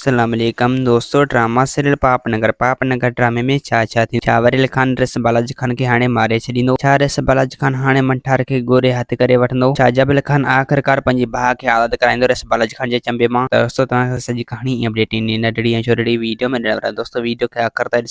اسلام عليڪم دوستو ڊراما سيريل پاپ نگر پاپ نگر ڊرامي ۾ ڇا ڇا ٿيندو ڇا وريل خان ريس بالاجي خان کي هاڻي ماري ڇڏيندو ڇا ريس بالاجي خان هاڻي منٺار کي گوري هٿ ڪري وٺندو ڇا جبل خان آخرڪار پنهنجي ڀاء کي آزاد ڪرائيندو ريس بالاجي خان جي چنبي مان ته دوستو توهان کي سڄي ڪهاڻي ۽ اپڊيٽ ايندي ننڍڙي ۽ چورڙي ويڊيو ۾ ڏيڻ وارا آهيون دوستو ويڊيو کي آخر تائين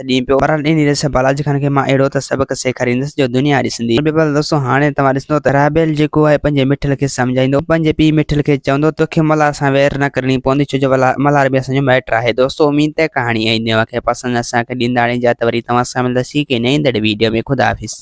ست ڏينهن پيو پرل ڏيني رهيس بالاجي خان کي مان اهڙو ته سبق سيکاريندس جو دنيا ڏسندي پر بيبل دوستو هاڻي توهان ڏسندو ته رابيل جيڪو آهي پنهنجي مٺل کي سمجهائيندو پنهنجي پيء مٺل کي چوندو توکي ملهار سان وير نه ڪرڻي پوندي ڇو جو ملهار به اسان جو مائٽ آهي دوستو اميد ته ڪهاڻي ۽ نيوه کي پسند اسان کي ڏيندا اڻي جا ته وري توهان سان ملنداسين ڪنهن نه ايندڙ ويڊيو ۾ خدا حافظ.